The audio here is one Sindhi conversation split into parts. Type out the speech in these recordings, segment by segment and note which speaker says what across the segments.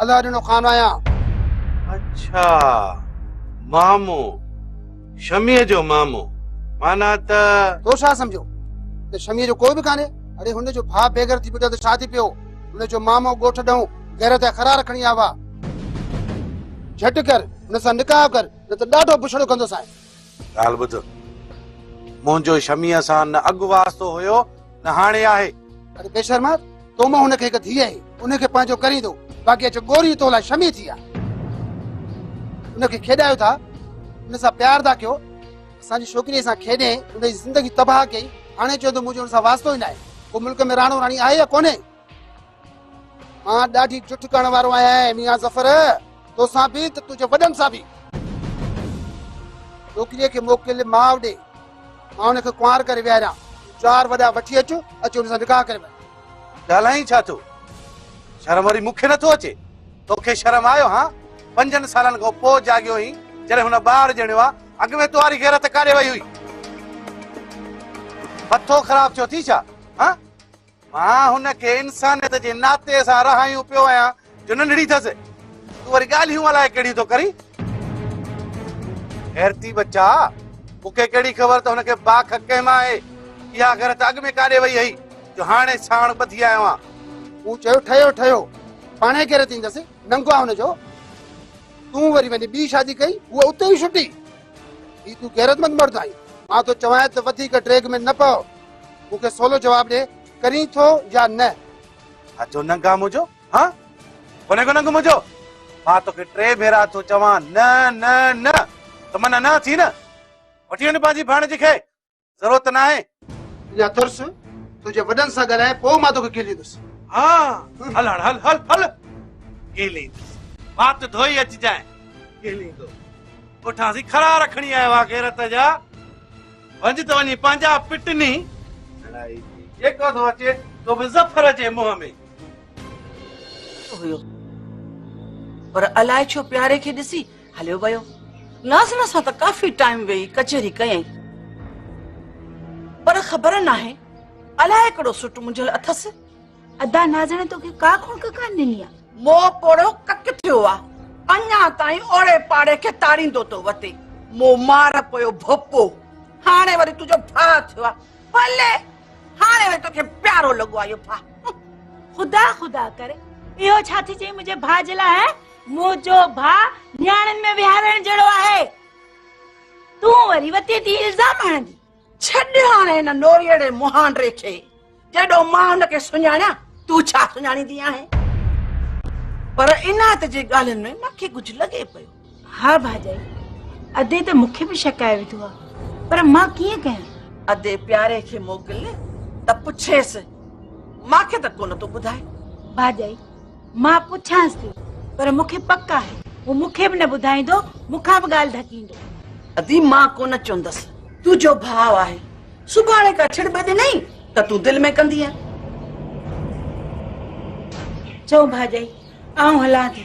Speaker 1: الله ڏنو خان آهيان. اڇا
Speaker 2: مامو شميء جو مامو معنيٰ ته. تو ڇا سمجهيو
Speaker 1: ته شميء جو ڪوئي به ڪانهي؟ اڙي هن جو ڀاء بيگهر ٿي پٽو ته ڇا ٿي پيو؟ هن جو مامو ڳوٺ ڏئون غيرت جا خرار کڻي آيو آ. جهٽ ڪر هن سان نڪاح ڪر نه ته ڏاڍو بڇڙو ڪندوسانء. ڳالهه ٻڌ،
Speaker 2: منهنجو شميء سان نه اڳ واسطو هيو نه هاڻي آهي. اڙي بيشرما،
Speaker 1: تو مان هن کي هڪ ڌيء آهي، ان کي پنهنجو ڪريندو، باقي اچ ڳوري تو لاء شمي ٿي آ. ان کي کيڏايو ٿا، ان سان پيار ٿا ڪيو، اسان جي ڇوڪريء سان کيڏي ان جي زندگي تباهه ڪئي، هاڻي چوين ٿو منهنجو ان سان واسطو ئي ناهي. ڪو ملڪ ۾ راڻو راڻي آهي يا ڪونهي؟ مان ڏاڍي جٺ ڪرڻ وارو آهيان اي ميان ظفر، توسان به ته تنهنجي وڏن سان به. ڇوڪريء کي موڪل ماء ڏي، مان ان کي ڪنوار ڪري ويهاريان، تون چار وڏا وٺي اچ، اچي ان سان نڪاح ڪري وٺ. ڳالهائين ڇا
Speaker 2: ٿو؟ شرم وري مون کي نه ٿو اچي، توکي شرم آيو هان؟ پنجن سالن کان پوء جاڳيو آهين، جڏهن هن ٻار ڄڻيو آ، اڳ ۾ تنهاري غيرت ڪاڏي وئي هئي؟ مٿو خراب ٿيو اٿئي ڇا؟ هان؟ مان هن کي انسانيت جي ناتي سان رهايون پيو آهيان جو ننڍڙي ٿس تون وري ڳالهيون الائي ڪهڙيون ٿو ڪرين غيرتي بچا مون کي ڪهڙي خبر ته هن کي باک ڪنهن مان آهي اها گهر ته اڳ ۾ ڪاڏي وئي هئي جو هاڻي ساڻ ٻڌي آيو آهيان مون چيو ٺهيو
Speaker 1: ٺهيو پاڻي ڪير ٿيندس ننگ آ هن جو تون وري وڃي ٻي شادي ڪئي هو اتي ئي شٽي هي تون غيرتمند مرد آهين مان ٿو چوانء ته وڌيڪ ڊريگ ۾ نه پئو مون کي سولو جواب ڏي ڪرين ٿو يا نه ها جو
Speaker 2: ننگ آ منهنجو ها ڪونهي ڪو ننگ منهنجو مان توکي ٽي ڀيرا ٿو چوان نه نه نه ته من انا ٿي نه وٺي وڃ پنهنجي ڀاڻجي کي ضرورت نه آهي اڃا ترس
Speaker 1: تنهنجي وڏن سان ڳالهائي پوء مان توکي کيليندس ها
Speaker 2: هل هاڻ هل هل هل کيليندس وات ڌوئي اچجانء کيليندو پٺان سي کڙا رکڻي آهي وا غيرت جا ڀڄ ته وڃي پنهنجا پٽني ڀلائي جي جيڪو ٿو اچي سو به ظفر جي منهن ۾. هيو
Speaker 3: پر الائي ڇو پياري کي ڏسي هليو ويو. ناظره سان ته ڪافي ٽائيم ويهي ڪچهري ڪيائين پر خبر ناهي الائي ڪهڙو سٽ منجهيل اٿس. ادا نازڻي
Speaker 4: توکي ڪا خونڪ ڪان ڏني آ مو پوڙو
Speaker 3: ڪڪ ٿيو آ اڃا تائين اوڙي پاڙي کي تاڙيندو تو وتي مو مار پيو ڀوپو هاڻي وري تنهنجو ڀاء ٿيو آ ڀلي هاڻي وري توکي پيارو لڳو آ اهو ڀاء خدا
Speaker 4: خدا ڪري اهو ڇا ٿي چئي منهنجي ڀاء جي لاء منهنجو ڀاء نياڻين ۾ وهارڻ جهڙو آهي تون وري وتي تي الزام هڻندي ڇڏ هاڻي
Speaker 3: هن نوريئڙي مهانڊري کي، جيڏو مان هن کي سڃاڻيان، تون ڇا سڃاڻيندي آهين؟ پر عنايت جي ڳالهين ۾ مان کي ڪجهه لڳي پيو. ها ڀاڄائي،
Speaker 4: ادي ته مون کي به شڪائي وڌو آهي، پر مان ڪيئن ڪيان؟ ادي پياري
Speaker 3: کي موڪل ته پڇيس، مان کي ته ڪونه ٿو ٻڌائي. ڀاڄائي،
Speaker 4: مان پڇانس ٿي پر مون کي پڪ آهي هو مون کي به نه ٻڌائيندو مون کان به ڳالهه ڌڪيندو ادي مان
Speaker 3: ڪونه چوندس تنهنجو ڀاء آهي سڀاڻي کا ڇڙ ٻه ڏنائين ته تون دل ۾ ڪندي
Speaker 4: چئو ڀاڄائي آئون هلان ٿي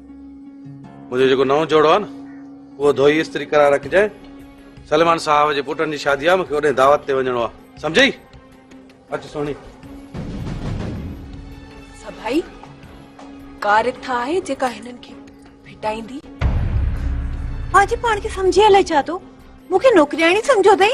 Speaker 2: منهنجو جيڪو نئون جوڙو آهي نه اهو ڌوئي استري ڪرائي رکجانء سليمان صاحب جي پٽن جي شادي آهي مونکي اوڏانهن دعوت تي وڃڻو آهي سمجهي اچ سهڻي
Speaker 5: سڀائي ڪا رٿ آهي جيڪا هنن کي ڦٽائيندي
Speaker 4: آجي پاڻ کي سمجهي الائي ڇا ٿو مونکي نوڪرياڻي سمجهيو اٿئي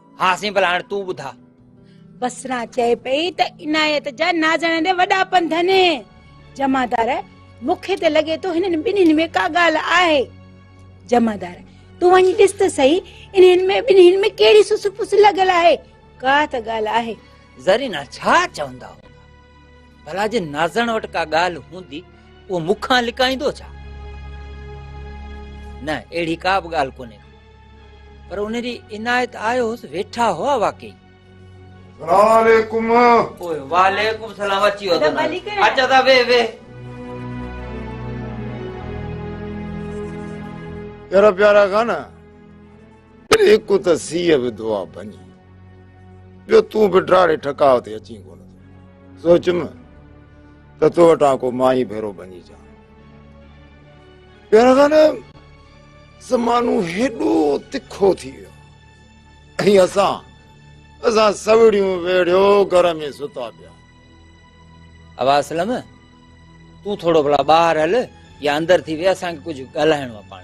Speaker 4: ها سائين ڀلا
Speaker 6: هاڻ تون ٻڌاء. بصره
Speaker 4: چئي پئي ته عنايت جا نازڻ ڏي وڏا پنڌن. جمعدار، مون کي ته لڳي ٿو هنن ٻنهين ۾ ڪا ڳالهه آهي. جمعدار، تون وڃي ڏس ته سهي انهن ۾ ٻنهين ۾ ڪهڙي سس پس لڳل آهي. ڪا ته ڳالهه آهي. زرينه، ڇا
Speaker 6: چوندا هوندا. ڀلا جي نازڻ وٽ ڪا ڳالهه هوندي اهو مون کان لڪائيندو ڇا نه اهڙي ڪا به ڳالهه ڪونهي پر ان جي عنايت آيو هوس ويٺا هئا واقعي وعليڪم سلام اچي اچا ٿا وي وي
Speaker 7: يارا پيارا کان نه پر هڪ ته سيء به دعا ڀڃي ٻيو تون به ڊاڙي ٺڪاء تي اچين ڪونه ٿو سوچم ته تو وٽان ڪو مائي ڀيرو ڀڃي جا پير خان زمانو هيڏو تکو ٿي ويو ۽ اسان اسان سوڙيون ويڙيو گھر ۾ ستا پيا اوا
Speaker 6: اسلم تون ٿورو ڀلا ٻاهر هل يا اندر ٿي وي اسان کي ڪجهه ڳالهائڻو آهي پاڻ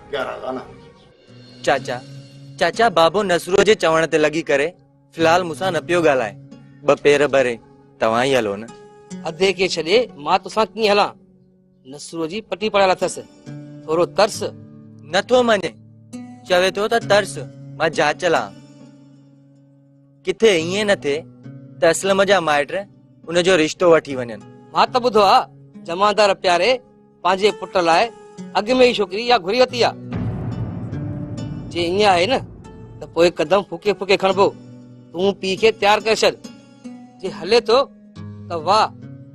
Speaker 7: پيارا ڳانا
Speaker 8: هجي. چاچا چاچا بابو نصرو جي چوڻ تي لڳي ڪري في الحال مون سان نه پيو ڳالهائي ٻه پير ڀري توهان ئي هلو نه. ادي کي ڇڏي
Speaker 9: مان تو سان ڪيئن هلان نصرو جي پٽي پڙهيل اٿس ٿورو ترس. نه ٿو مڃي
Speaker 8: چوي ٿو ته ترس مان جاچل آهان ڪٿي ائين نه ٿئي ته اسلم جا مائٽ ان جو رشتو وٺي وڃن. مان ته ٻڌو آ
Speaker 9: جمعدار پياري پنهنجي پٽ لاء اڳ ۾ ئي ڇوڪري اها گهري ورتي آهي جي ائين آهي نه ته پوء قدم ڦڪي ڦڪي کڻبو تون پيء کي تيار ڪري ڇڏ جي هلي ٿو ته واهه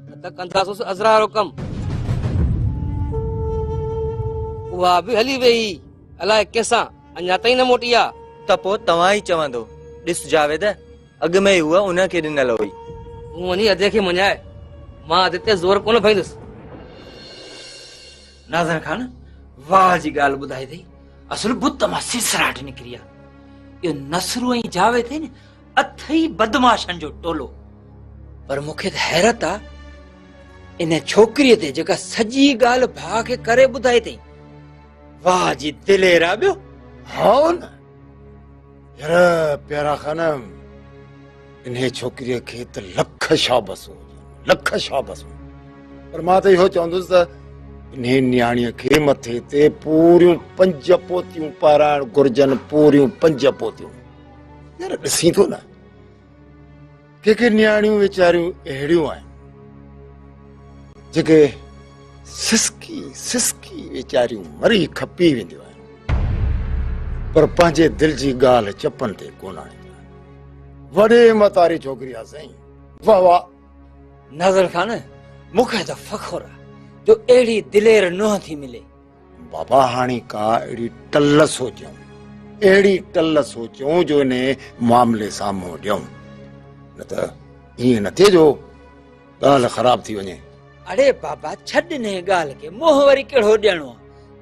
Speaker 9: نه ته ڪنداسوس ازرا وارو ڪم اها به هلي ويئي الائي ڪنهن سان اڃا تائين نه موٽي آ ته پوء توهان ئي
Speaker 8: چوندو ڏس جاويد اڳ ۾ ئي هوء ان کي ڏنل هئي. تون وڃي ادي
Speaker 9: کي مڃاء. مان ادي تي زور ڪونه ڀريندس.
Speaker 6: ناظر خان واهه جي ڳالهه ٻڌائي اٿئي. اصل بت مان سرسراٽ نڪري آ. اهو نصرو ۽ جاويد اٿئي نه اٿئي بدمعاشن جو ٽولو. پر مون کي ته حيرت آ ان ڇوڪريء تي جيڪا سڄي ڳالهه ڀاء کي ڪري ٻڌائي اٿئي. واهه جي دلير آ ٻيو. هائو نه.
Speaker 7: يار پيارا خانم انهي ڇوڪريء کي ته لک شابسون هجن لک شابسون پر مان ته اهو چوندس ته انهي نياڻيء کي مٿي تي پوريون پنج پوتيون پارائڻ گهرجن پوريون پنج پوتيون يار ڏسين ٿو نه ڪي ڪي نياڻيون ويچاريون اهڙيون آهن جيڪي سسڪي سسڪي ويچاريون مري کپي وينديون آهن پر پنهنجي دل جي ڳالهه چپن تي ڪونه آڻينديون آهن وڏي متاري ڇوڪري آ سائين واهه واهه ناظر
Speaker 6: خان مونکي ته فخر آ جو اهڙي دلير نونهن ٿي ملي بابا
Speaker 7: هاڻي ڪا اهڙي ٽل سوچيون اهڙي ٽل سوچيون جو ان معاملي سان منهن ڏيون نه ته ائين نه ٿئي جو ڳالهه خراب ٿي وڃي اڙي بابا
Speaker 6: ڇڏ نه ڳالهه کي منهن وري کيڙو ڏيڻو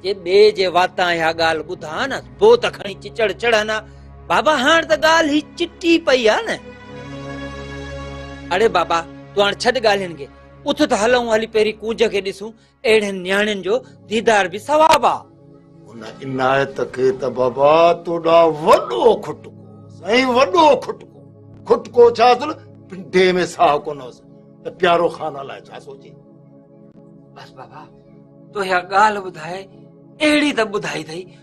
Speaker 6: جي ٻي جي واتان اها ڳالهه ٻڌا نه بو ته کڻي چچڙ چڙهن بابا هاڻ ته ڳالهه هي چٽي پئي آ نه اڙي بابا تو هاڻ ڇڏ ڳالهين کي اٿ ته هلون هلي پهرين ڪونج کي ڏسون اهڙين نياڻين جو ديدار به ثواب آ. ان
Speaker 7: عنايت کي ته بابا تو ڏانهن وڏو کٽڪو سائين وڏو کٽڪو کٽڪو ڇا اصل پنڊي ۾ ساهه ڪونه هوس ته پيارو خان لاء ڇا سوچي بس
Speaker 6: بابا تو اها ڳالهه ٻڌائي اهڙي ته ٻڌائي اٿئي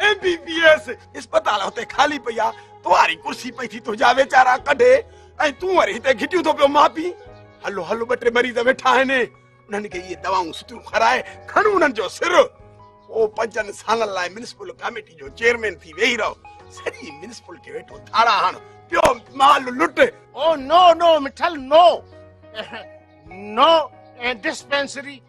Speaker 2: ايم بي بي ايس اسپتال هتي خالي پئي آ تواري ڪرسي پئي ٿي تنهنجا ويچارا ڪڍي ۽ تون وري هتي گهٽيون ٿو پيو ماپي هلو هلو ٻه ٽي مريض ويٺا آهن انهن کي اهي دواؤن سٺيون کارائي کڻ انهن جو سر او پنجن سالن لاء ميونسپل ڪاميٽي جو چيئرمين ٿي ويهي رهو سڄي ميونسپل کي ويٺو ٿاڙا هڻ پيو مال لٽ او نو نو
Speaker 10: مٺل نو نو ڊسپينسري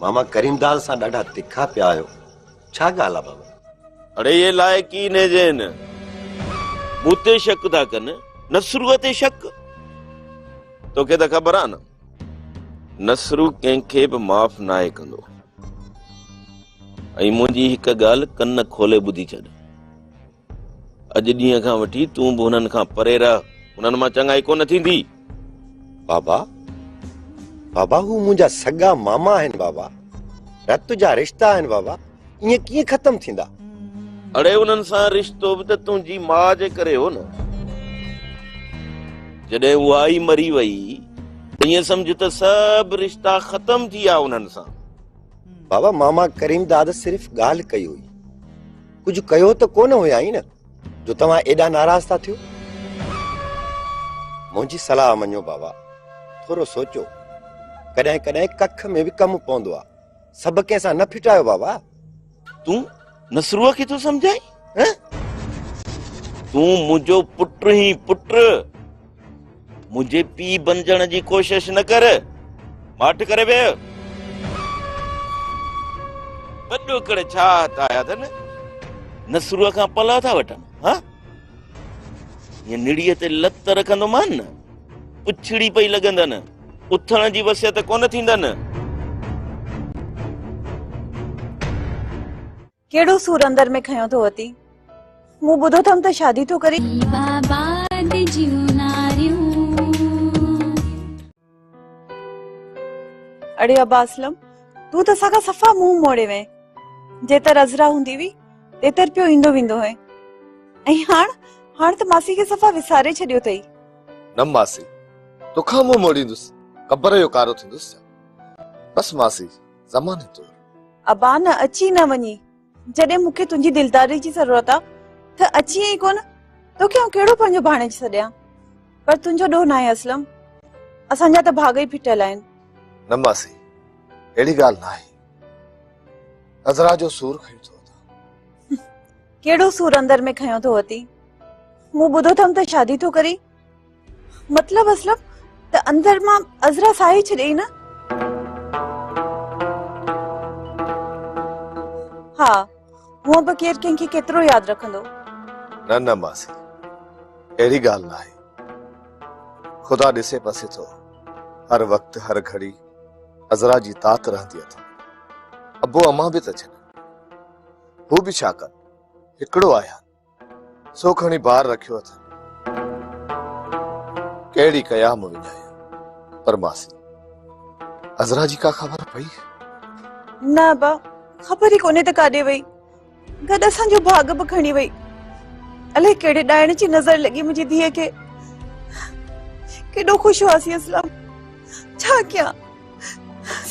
Speaker 7: ماما ڪريم دال سان ڏاڍا تکا پيا آهيو ڇا ڳالهه آ بابا. اڙي اهي
Speaker 11: لائق ئي نهن ذهن مون تي شڪ ٿا ڪن نصروء تي شڪ توکي ته خبر آ نه نصرو ڪنهن کي به معاف ناهي ڪندو ۽ منهنجي هڪ ڳالهه ڪن کولي ٻڌي ڇڏ اڄ ڏينهن کان وٺي تون به هنن کان پري رهه هنن مان چڱائي ڪونه ٿيندي بابا
Speaker 7: بابا هو منهنجا سڳا ماما آهن بابا رت جا رشتا آهن بابا ائين ڪيئن ختم ٿيندا اڙي
Speaker 11: انهن سان رشتو به ته تنهنجي ماء جي ڪري هو نه جڏهن اها ئي مري وئي ائين سمجهه ته سڀ رشتا ختم ٿي ويا انهن سان بابا
Speaker 7: ماما ڪريم داد صرف ڳالهه ڪئي هئي ڪجهه ڪيو ته ڪونه هيائين نه جو توهان ايڏا ناراض ٿا ٿيو منهنجي صلاح مڃو بابا ٿورو سوچو ڪڏهن ڪڏهن ڪک ۾ به ڪم پوندو آ سڀ ڪنهن سان نه ڦٽايو بابا تون
Speaker 11: نسروء کي ٿو سمجھائين تون منهنجو پٽ هين پٽ منهنجي پيء بنجڻ جي ڪوشش نه ڪر ماٺ ڪري ويهه وڏو ڪڙي ڇا هٿ آيا اٿن نسروء کان پلا ٿا وٺن ها هيء نڙيء تي لت رکندومان نه پڇڙي پئي لڳندن اٿڻ جي وصيت ڪونه ٿيندن
Speaker 12: ڪهڙو سور اندر ۾ کنيو ٿو وتي مون ٻڌو ٿم ته شادي ٿو اڙي ابا اسلم تون ته اسان کان صفا منهن موڙي وئين جيتر عذرا هوندي هئي تيتر پيو ايندو ويندو هئي ۽ هاڻ هاڻ ته ماسي کي صفا وساري ڇڏيو اٿئي نه ماسي
Speaker 13: توکان منهن موڙيندس قبر جو ڪارو ٿيندس بس ماسي زماني طور ابا نه
Speaker 12: اچي نه وڃي جڏهن مون کي تنهنجي دلداري جي ضرورت آ ته اچي ئي ڪون تو کي آئون ڪهڙو پنهنجو ڀاڻيج سڏيان پر تنهنجو ڏوهه ناهي اسلم اسان جا ته ڀاڳ ئي ڦٽيل آهن نه
Speaker 13: ماسي اهڙي ڳالهه ناهي نظرا جو سور کڻي ٿو اٿا
Speaker 12: ڪهڙو سور اندر ۾ کنيو ٿو اٿي مون ٻڌو اٿم ته شادي ٿو ڪرين مطلب اسلم ته اندر مان عذرا ساهي ڇڏيئي نه؟ ها هونء به ڪير ڪنهن کي ڪيترو ياد رکندو. نه نه
Speaker 13: ماسي اهڙي ڳالهه ناهي. خدا ڏسي پسي ٿو. هر وقت هر گهڙي عذرا جي تات رهندي اٿن. ابو امان به ته ڇڏن. هو به ڇا ڪن. هڪڙو آهيان. سو کڻي بار رکيو اٿن ڪهڙي قيام وڃايا پر ماسي عذرا جي ڪا خبر پئي نه
Speaker 12: با خبر ئي ڪونهي ته ڪاڏي وئي گڏ اسان جو ڀاڳ به کڻي وئي الائي ڪهڙي ڏائڻ جي نظر لڳي منهنجي ڌيء کي ڪيڏو خوش هئاسي اسلام ڇا ڪيان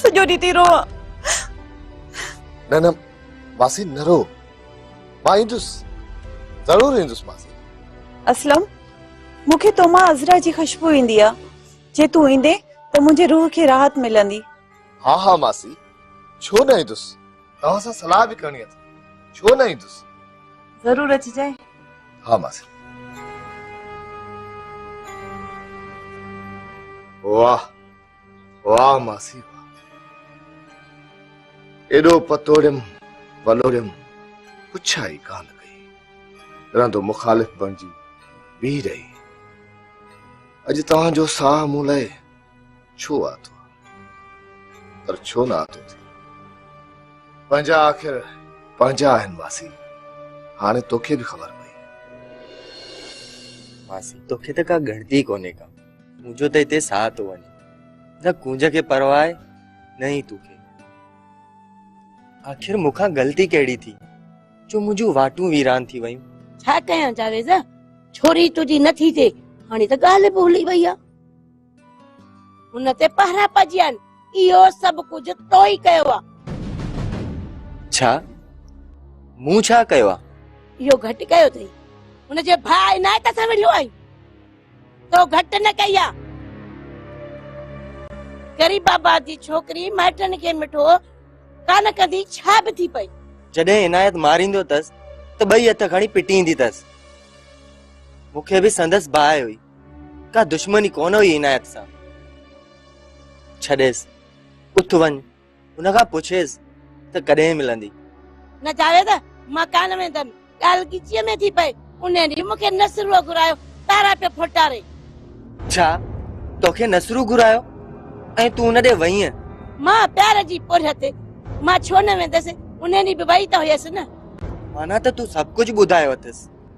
Speaker 12: سڄو ڏينهن ٿي روان
Speaker 13: نه نه ماسي نه رو مان ايندس ضرور ايندس ماسي اسلم
Speaker 12: مون کي تو مان عزرا جي خوشبو ايندي آ جي تون ايندي ته منهنجي روح کي راحت ملندي ها ها
Speaker 13: ماسي ڇو نه ايندس توهان سان صلاح به ڪرڻي اٿم ڇو نه ايندس ضرور
Speaker 12: اچجانء ها ماسي
Speaker 13: واهه واهه ماسي واهه ايڏو پتوڙيم پلوڙيم پڇا ئي ڪانه ڪئي رهندو مخالف بڻجي بيهي رهي اڄ توهان جو ساهه مون لاء ڇو آتو پر ڇو نه آتو ٿي پنهنجا آخر پنهنجا آهن ماسي هاڻي توکي به خبر پئي
Speaker 8: ماسي توکي ته ڪا ڳڻتي ڪونهي ڪا منهنجو ته هتي ساهه ٿو وڃي نه ڪونج کي پرواهه آهي نه ئي توکي آخر مون کان غلطي ڪهڙي ٿي جو منهنجون واٽون ويران ٿي ويون ڇا ڪيان جاويز
Speaker 4: ڇوري تنهنجي نه ٿي ٿي هاڻي ته ڳالهه به هلي وئي آهي ان تي پهرا پجيا آهن اهو سڀ ڪجهه تو ئي ڪيو آهي
Speaker 8: ڇا مون ڇا ڪيو آهي اهو گهٽ
Speaker 4: ڪيو اٿئي هن جي ڀاء عنايت سان وڙهيو آهي تو گهٽ نه ڪئي آ. غريب آباد جي ڇوڪري مائٽن کي مٺو ڪانه ڪندي ڇا به ٿي پئي. جڏهن عنايت
Speaker 8: ماريندو تس ته ٻئي هٿ کڻي پٽيندي تس. مون کي به سندس باهه هئي. ڪا دشمني ڪونه هئي عنايت سان. ڇڏيس اٿ وڃ ان کان پڇيس ته ڪڏهن ملندي؟ نه جاويد،
Speaker 4: مان ڪانه ويندم. ڳالهه ڳچيء ۾ ٿي پئي. ان ڏينهن مون کي نصروء گهرايو، تارا پيو ڦوٽاري. ڇا
Speaker 8: توکي نصرو گهرايو ۽ تون ان ڏي وئينء؟ مان، پيار
Speaker 4: جي پورهيت تي مان ڇو نه ويندس، ان ڏينهن به وئي ته هيس نه. معنيٰ ته تون
Speaker 8: سڀ ڪجهه ٻڌايو اٿس.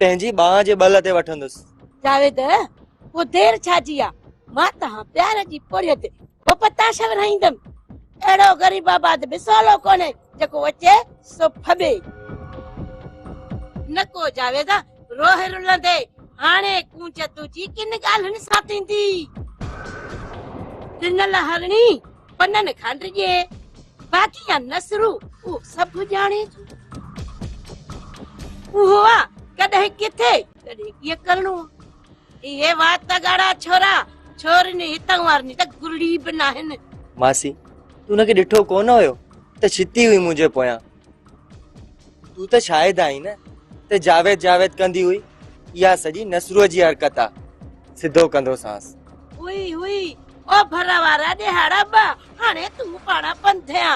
Speaker 8: تنهنجي ٻانهن جي ٻل تي وٺندس. جاويد،
Speaker 4: اهو دير ڇا جي آ، مان تنهان پيار جي پوڙهي تي به پتاش ورهائيندم. اهڙو غريب آباد به سولو ڪونهي، جيڪو اچي سو ڦٻي. نڪو جاويد، روهه رلندي، هاڻي ڪونج تنهنجي ڪن ڳالهين سان ٿيندي. ڏنل هرڻي پنن کان ڊڄي باقي يا نسرو اهو سڀ ڄاڻي ٿو اهو آ ڪڏهن ڪٿي ڪڏهن ڪيئن ڪرڻو اهي وات ڳاڙا ڇورا ڇورن هتان وارن ته گرڙي به ناهن ماسي
Speaker 8: تون ان کي ڏٺو ڪونه هيو ته ڇتي هئي منهنجي پويان تون ته شاهد آهين نه ته جاويد جاويد ڪندي هئي اها سڄي نسرو جي حرڪت آ سڌو ڪندو سانس هئي هئي
Speaker 4: او ڀر وارا ڏيهاڙا ٻه هاڻي تون پاڻ پنڌيا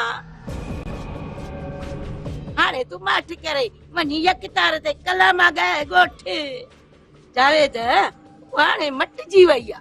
Speaker 4: هاڻي تون ماٺ ڪري وڃي يڪ تار تي ڪلام آ ڳائي ڳوٺ جاويد هاڻي مٽجي وئي آ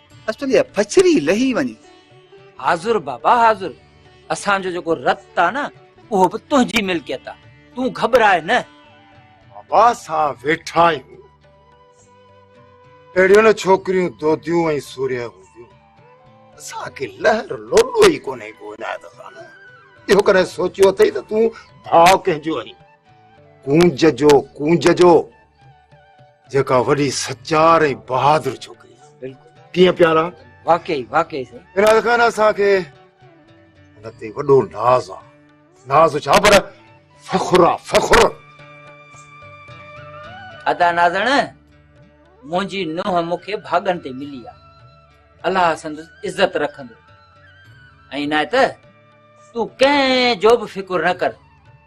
Speaker 14: اسٽرليا پڇري لهي وڃي. حاضر
Speaker 6: بابا حاضر، اسان جو جيڪو رت آ نه اهو به تنهنجي ملڪيت آ، تون گهٻراء نه. بابا
Speaker 7: اسان ويٺا آهيون. اهڙيون نه ڇوڪريون دوديون ۽ سورهيه هونديون. اسان کي لهر لوڏو ئي ڪونهي ڪو عنايت خان. اهو ڪڏهن سوچيو اٿئي ته تون ڀاء ڪنهن جو آهين. ڪونج جو ڪونج جو. جيڪا وڏي سچار ۽ بهادر ڇوڪري آهي بلڪل ڪيئن پيارا واقعي واقعي
Speaker 6: سائين عنايت خان اسان کي
Speaker 7: ان تي وڏو ناز آ ناز ڇا پر فخر آ فخر
Speaker 6: ادا نازڻ منهنجي نوح مون کي ڀاڳن تي ملي آ الله سندس عزت رکندو ۽ عنايت تون ڪنهن جو به فڪر نه ڪر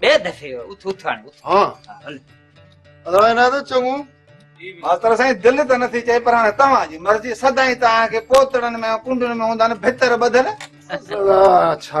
Speaker 6: ٻئي دفعي اٿ اٿ هاڻي اٿ ها هل ادا انا
Speaker 7: ته چڱو ماستر
Speaker 14: سائين دل ته نٿي چئي پر هاڻي توهان جي مرضي سدائين توهان کي پوتڙن ۾ ڪنڊن ۾ هوندا نه ڀتر
Speaker 7: ٻڌل
Speaker 14: ڇا